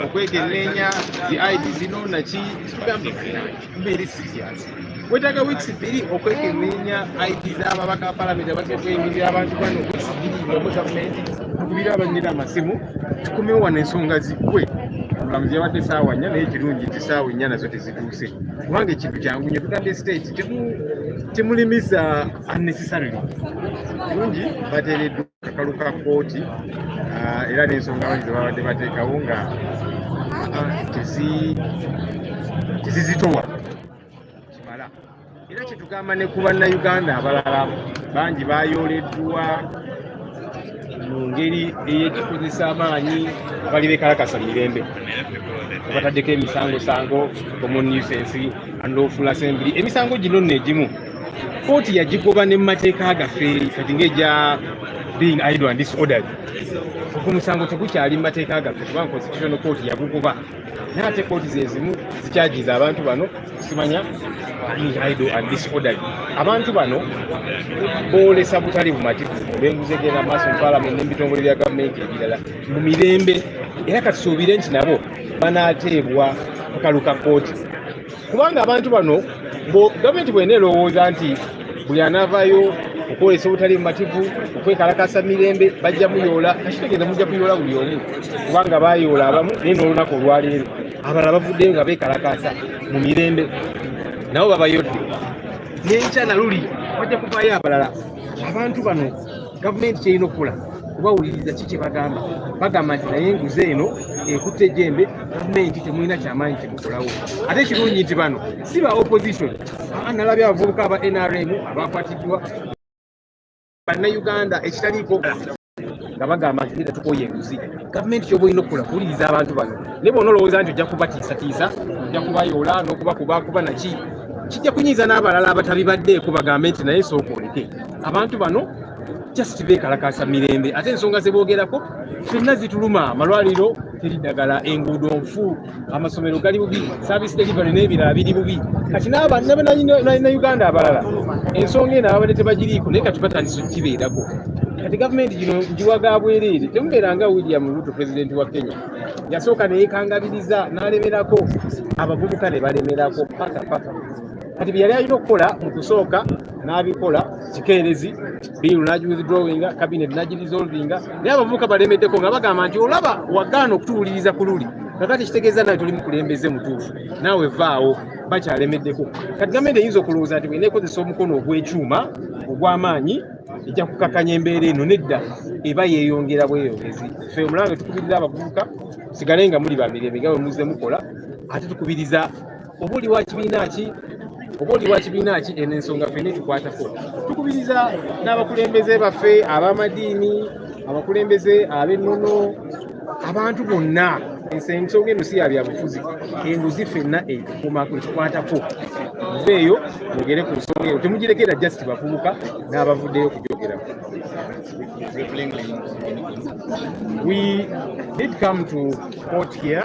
okwekenneenya zi id zino naki kitugambe mbeeri siriasi wetaaga wiiki bbiri okwekenneenya id z'ababaka palamenti abatya okweyimirira abantu bano wiiki bbiri ngamu gavumenti tukubira abanyira amasimu tukumewo wano ensonga ziggwe mulamuzi yabadde saawa nnya naye kirungi nti saawa ennya nazo tezituuse kubanga ekintu kyangu nyo tugambye siteeti temulimiza unnecessarily kirungi bateereddwa kakalu ka kkooti ah, era n'ensonga bangi zebabadde bateekawo nga tezizitowa kimala era kyetugamba ne ku bannayuganda abalala bangi bayooleddwa mu ngeri ey'ekikozesa amaanyi bali bekalakasa mirembe obataddeko emisangosango common nuisance and lawful assembly emisango gino nno egimu kooti yagigoba ne mu mateeka gaffe kati ngaegya being idle and disorderly ku musango tegukyali mu mateeka gaffe kubanga constitutional court yagugoba naye ate kooti zezimu zikyagiza abantu bano simanya being idle and disorderly abantu bano boolesa butali bumativu benguzi egenda maaso mu palamenti n'ebitongole bya gavumenti ebirala mu mirembe era katusuubire nti nabo banaateebwa kakalu ka kooti kubanga abantu bano gavumenti bwena erowooza nti buli anavayo okwolesa obutali mumativu okwekalakasa mirembe bajja muyoola kakitegeza mujja kuyoola buli omu kubanga bayoola abamu naye nolunaku olwaleero abalala bavuddeyo nga bekalakasa mu mirembe nabo babayodde nenkya naluli bajja kuvayo abalala abantu bano gavumenti kyerina okukola kubawuliriza ki kyebagamba bagamba nti naye enguzi eno ekutte ejembe gavumenti temulina kyamaanyi kyemukolawo ate ekirungi nti bano si ba opposition nalabye abavubuka aba nrm abakwatiddwa bannayuganda ekitaliiko nga bagamba nti neda tukoye enguzi gavumenti kyoba olina okukola kuwuliriza abantu bano naye bona olowooza nti ojja kubatiisatiisa ojja kubayoola n'okubakuba kuba naki kijja kunyiiza n'abalala abatabibaddeeko bagambe nti naye sooka oleke abantu bano just bekalakasa mirembe ate ensonga zeboogerako fenna zituluma amalwaliro teri ddagala enguudo nfu amasomero gali bubi service delivery n'ebirala biri bubi kati nabanna uganda abalala ensonga eno ababadde tebagiriiko naye kati batandisa okukibeerako kati gavumenti gino njiwa ga bwereere temubeera nga william ruto pulezidenti wa kenya yasooka neyekangabiriza n'alemerako abavubuka ne balemerako paka paka kati byeyali alina okukola mu kusooka n'abikola kikeerezi biiru n'agiwithdrawinga kabineeti n'agirisolvinga naye abavubuka balemeddeko nga bagamba nti olaba wagaana okutuwuliriza ku luli kakati kitegeeza nawe toli mukulembeze mutuufu naawe vaawo bakyalemeddeko kati gavumenti eyinza okulowooza nti bwena ekozesa omukono ogw'ekyuma ogw'amaanyi ejja kukakanya embeera eno nedda eba yeeyongera bweyongezi fe omulanga tukubirira abavubuka sigale nga muli bamirembe nga bwe muzze mukola ate tukubiriza oba oli wa kibiina ki oba oli wa kibiina ki eno ensonga fena etukwatako tukubiriza n'abakulembeze baffe ab'amadiini abakulembeze ab'ennono abantu bonna ensonga eno si yabyabufuzi enguzi fenna etukumako etukwatako nze eyo mwogere ku nsonga eyo temugirekera just bavubuka n'abavuddeyo okugyogerako we did come to court here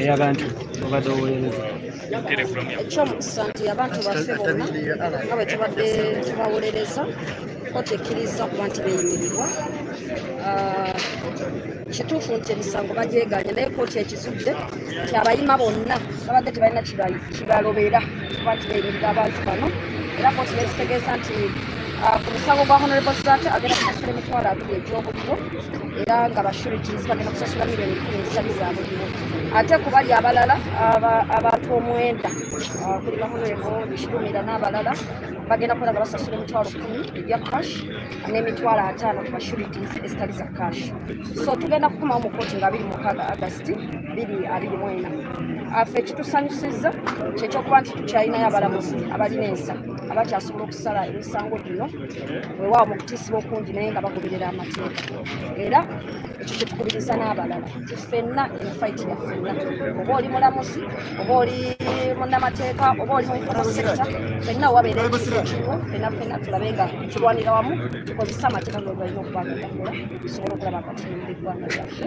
eyabantu obadde owolereza ekyomukisa nti abantu baffe bonna nga bwe tubadde tubawolereza kkooti ekkiriza okuba nti beeyimirirwa ah, kituufu nti emisango bagyeganye naye kkooti ekizudde nti abayima bonna babadde tebalina kibalobera bakireeberera abantu bano era kooti nekitegeeza nti ah, ku musango gwa honorable sat agenda kusasula emitwalo abiri egy'obuliro era nga bashurities bagenda kusasula miliyoni kumi ezitali za buliro ate ku bali abalala abantu omwenda ah, kuli bahonrebo bishirumira n'abalala bagenda kukola nga basasula emitwalo kumi ebya cash n'emitwalo ataano ku bashurities ezitali za cash so tugenda kukumawo mu kooti nga abiri mukaaga agasti biri abiri mu ena afe ekitusanyusizza kyekyokuba nti tukyalinayo abalamuzi abalina ensa abakyasobola okusala emisango gino wewaawo mu kutiisiba okungi naye nga bagoberera amateeka era ekyo kyetukubiriza n'abalala fenna efaiti ya fenna oba oli mulamuzi oba oli munnamateeka oba oli muikono sekita fenna wabeera ekikimu fenna fenna tulabe nga tulwanira wamu tukozesa amateeka gogalina okubagogakola tusobole okulaba katimba eggwanga lyaffe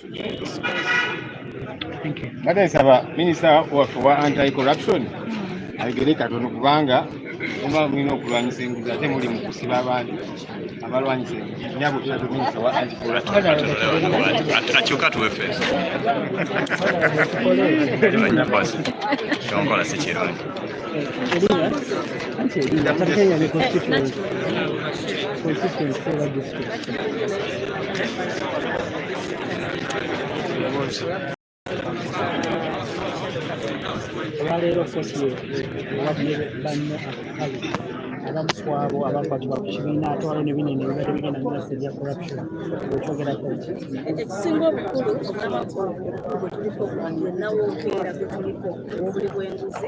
mbadde nsaba minisita waffe wa anti corruption ayogere katono kubanga oba mulina okulwanyisa enguzi ate muli mu kusiba abantu abalwanyisa enguzi nyabo tulabye minisita wa anti corruption akyuka tuwe feesi kyonkola si kirungi Consistency, consistency, olwaleero fesiyo ababye banno akakalu abamu ku abo abakwatibwa ku kibiina ate waliwo ne binene ebibadde bigenda mu masa ebya corruption okyogerako ki ekisinga obukulu obulamakulu bwe tuliko yonna wookeera gwe tuliko obuli bw'enguzi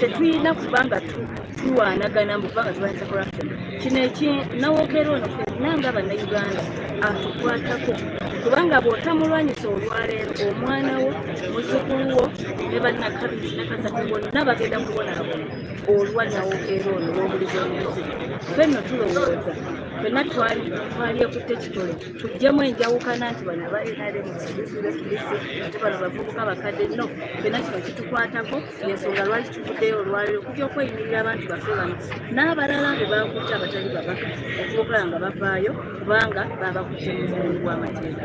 tetuyina kubanga tulwanagana mukubanga tulwanyisa corruption kino ekinawogera ono fenna nga bannayuganda atukwatako kubanga bw'otamulwanyisa olwaleero omwana wo muzukulu wo ne bannakabiri nakasatu bonna bagenda kubonabona olwa nawogera ono w'obulizi omuzi fenno tulowooza fenna twali twali ekutte kitole tujjemu enjawukana nti bano aba nrm kibisibesibisi ate bano bavubuka bakadde no fena kino kitukwatako yensonga lwaki tuvuddeyo olwaliro okuja okweyimirira abantu bafe bano n'abalala be bakutte abatali babaka okubokola nga bavaayo kubanga babakutte mu mulimu gw'amateeka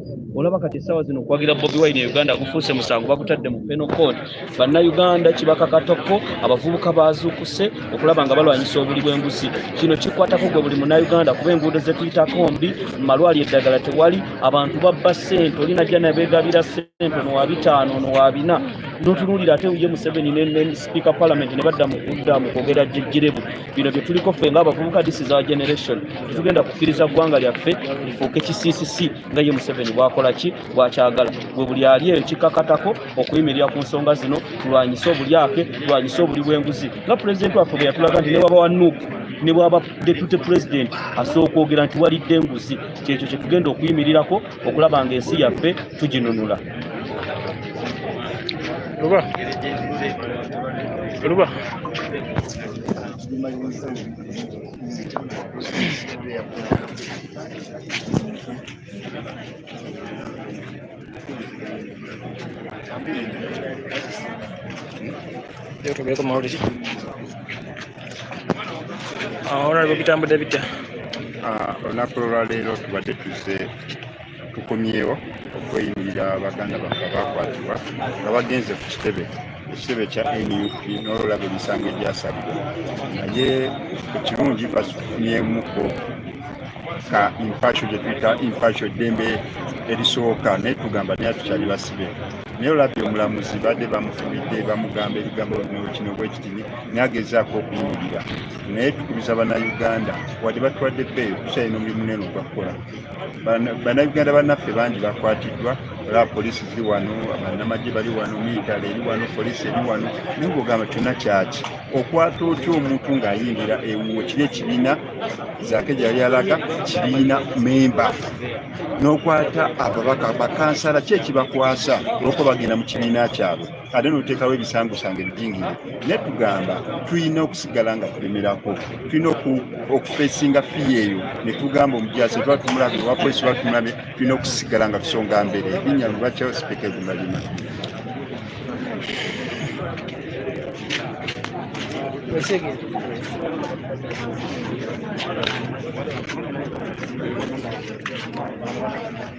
olaba kati essaawa zino okuwagira bobi wine e uganda gufuuse musango bagutadde mu penocod bannayuganda kibakakatako abavubuka bazuukuse okulaba nga balwanyisa obuli bw'enguzi kino kikwatako gwe buli munayuganda kuba enguudo zetuyitako mbi mumalwali eddagala tewali abantu babba sente olina jja nabegabira sente nowa bitaano nowa bina notunuulira ate uye museveni ne sipiika palamenti ne badda mu kudda mu kwogera jejjerebu bino bye tuliko ffe ng'abavubuka this is our generation tetugenda kukkiriza ggwanga lyaffe lifuuke kisiisisi nga ye museveni bwakola ki bwakyagala gwe buli ali eyo kikkakatako okuyimirira ku nsonga zino tulwanyise obulyake tulwanyise obuli bw'enguzi nga pulezidenti waffe bwe yatulaga nti ne waba wa nuuku ne bwaba deputy president asooka okwogera nti walidde enguzi kyekyo kyetugenda okuyimirirako okulaba nga ensi yaffe tuginunula luba luba Yo creo que como ahorita. honorable ah, bitambudde bitya ah, olunaku olwaleero tubadde tuzze tukomyewo okweyimirira baganda baffe abakwatibwa nga bagenze ku kitebe ekitebe kya nup n'olulaba emisango egyasalibwa naye ekirungi basufunyemuko ka impasho gye tuyita impasho eddembe erisooka naye tugamba naye tukyali basibe naye olabye omulamuzi badde bamufubidde bamugamba ebigambo bino kino bwekitini naye agezaako okuyingira naye tukubiza bannayuganda wadde batwadde bbeeyo tukyalina omulimu munene ogwakukola bannayuganda bannaffe bangi bakwatiddwa olaba poliisi ziri wano bannamagye bali wano miitale eri wano poliisi eri wano naye ngaogamba kyonna kyaki okwata otya omuntu ng'ayingira ewuwo kiri ekibiina zaake gyeyali alaga kibiina memba n'okwata ababaka bakansala ki ekibakwasa olwokuba bagenda mu kibiina kyabwe ate noteekawo ebisangusanga ebijingire naye tugamba tulina okusigala nga tulemerako tulina okufesinga fiya eyo netugamba omujaasi tuba tumulabe owapolisi tuba tumulabe tulina okusigala nga tusonga mbere ebinya lubakyawo sipeka egumalima Thank you.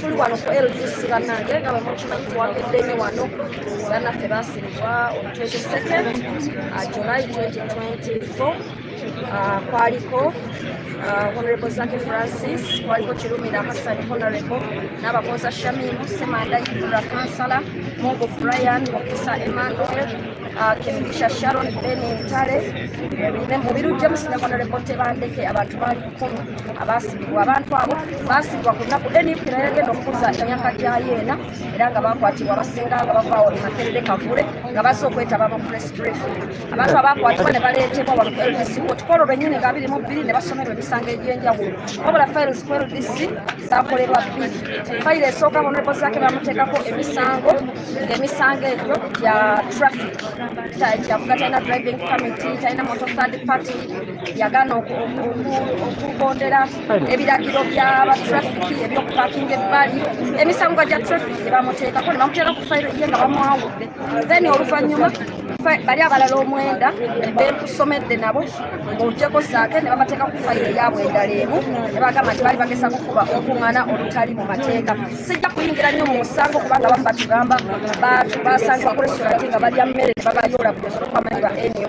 tuli wano ku LDC bannange nga bwe mukimanyi tuwagidde nnyo wano bannaffe baasimbwa on 22nd uh, July 2024 uh, kwaliko uh, honorable Zaki Francis kwaliko Kirumira Hassan honorable n'abakoza Shamimu Semanda Ibura kansala Mungu Brian Mukisa Emmanuel uh, Kemigisha Sharon Ben Ntale mu biru James ne honorable Tebandeke abantu bali abaasibibwa abantu abo baasibibwa ku nnaku nup nayagenda okukuza emyaka gyayo ena era nga bakwatibwa abasinga nga bavaawo emakerere kavule nga bazze okwetaba mu press brief abantu abakwatibwa ne baleetebwa wano ku ldc kotukolo lwennyini nga abiri mu bbiri ne basomerwa emisango egy'enjawulo wabula files ku ldc zakolerwa bbiri fayiro esooka honorable zake bamuteekako emisango ng'emisango egyo gya traffic kyavuga talina driving committee talina motor third party yagana okugondera ebiragiro bya batrafiki ebyokupakinga ebbali emisango gya trafiki gyebamuteekako nebamuteera ku fayiro ye nga bamwawudde then oluvanyuma bali abalala omwenda bekusomedde nabo ngaogyeko saake ne bamateeka ku fayiro eyabwe endala emu ne bagamba nti bali bagesa kukuba okuŋŋana olutali mu mateeka sijja kuyingira nnyo mu musango kubanga bamu batugamba basangibwa ku restoranti nga balya mmere ne babayoola buli osobola okubamanyi ba nyo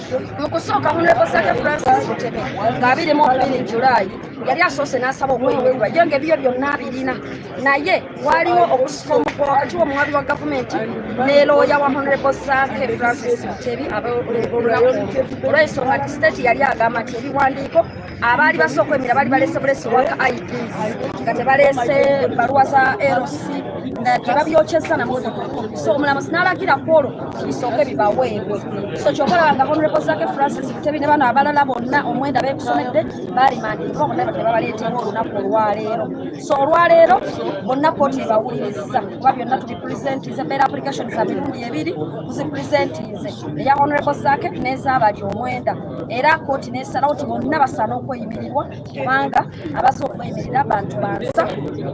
mu kusooka honorable saka francis mutebe ng'abiri mu bbiri julaayi yali asoose n'asaba okweyimirira ye nga ebiyo byonna abirina naye waaliwo okusika omukwa wakati w'omuwabi wa gavumenti ne looya wa honorable sake francis mutebi olw'ensonga nti state yali agamba nti ebiwandiiko abaali basooka emira bali balese bulesi waka ids nga tebalese baluwa za lc tebabyokyezza namotoka so omulamuzi nalagira kwolwo bisooke bibaweebwe so kyokolaba nga honorable zake francis butebi ne bano abalala bonna omwenda bekusomedde balimandiriwa bonna bade babaleeteera olunaku olwaleero so olwaleero bonna kooti ebawuliriza kuba byonna tubipresentize beera application za mirundi ebiri tuzipresentize eya honorable zake n'ezabali omwenda era kooti nesalawo ti bonna basaana okweyimirirwa kubanga abaza okweyimirira bantu bansa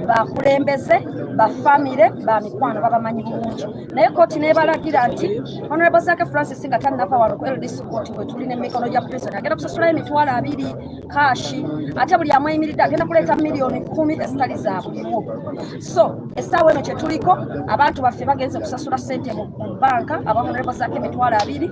bakulembeze bafamire bamikwano babamanyi bulungi naye kooti nebalagira nti honorable zake francis nga tanava wano ku ldc kooti wetuli nemikono gya prison agenda kusasulayo emitwalo abiri kashi ate buli amweyimiridde agenda kuleeta miliyoni kumi ezitali zabuliwo so esaawa eno kyetuliko abantu baffe bagenze kusasula sente mu banka aba honorable zake emitwalo abiri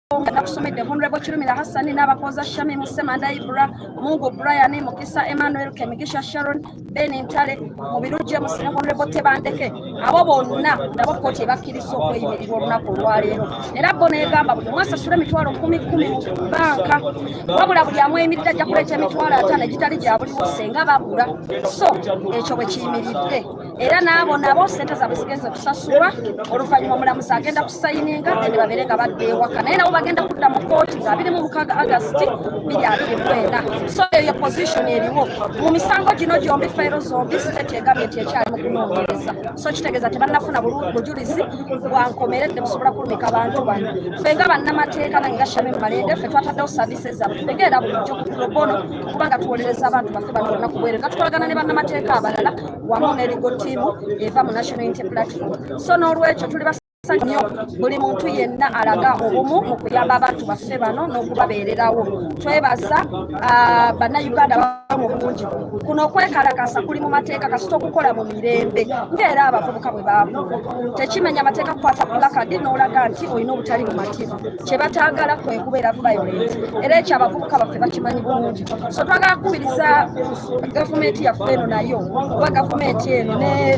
nga nakusomedde honorable kirumira hassani n'abakooza shami musemanda ibra mungu brian mukisa emmanuel kemigisha sharon ben ntale mubiru james ne honorable tebandeke abo bonna nabo kkooti ebakkiriza okweyimirirwa olunaku olwaleero era bo negamba buli mwasa sula emitwalo kumi kumi mu banka wabula buli amweyimiridde ajja kuleeta emitwalo ataano egitali gya buliwose nga babula so ekyo bwe kiyimiridde era n'abo nabo sente zaabwe zigenze kusasulwa oluvannyuma omulamuzi agenda kusayininga ene babeere nga badda ewaka naye nabo bagenda kudda mu kooti nga abiri mu mukaaga agasiti biri abiri mwenda so eyo position eriwo mu misango gino gyombi fayiro zombi state egambye nti ekyali mu kunoonyereza so kitegeeza tebannafuna bujulizi bwankomeredde busobola kulumika bantu bano ffe nga bannamateeka nange nga shami mumalende ffe twataddewo services zaffe ffe era bulijjo ku probono kubanga tuwolereza abantu baffe bano bonna kubwereza tukolagana ne bannamateeka abalala wamu ne ligo tiimu eva mu national unity platform so n'olwekyo tuli basanyufu nnyo buli muntu yenna alaga obumu mu kuyamba abantu baffe bano n'okubabeererawo twebaza ah, bannayuganda mu bungi kuno okwekalakasa kuli mu mateeka kasita okukola mu mirembe ngaera abavubuka bwe baamu tekimenya mateeka kukwata pulakadi n'olaga nti olina obutali bumativu kye bataagala kwe kubeera violent era ekyo abavubuka baffe bakimanyi bulungi so twagala kukubiriza gavumenti yaffe eno nayo oba gavumenti eno ne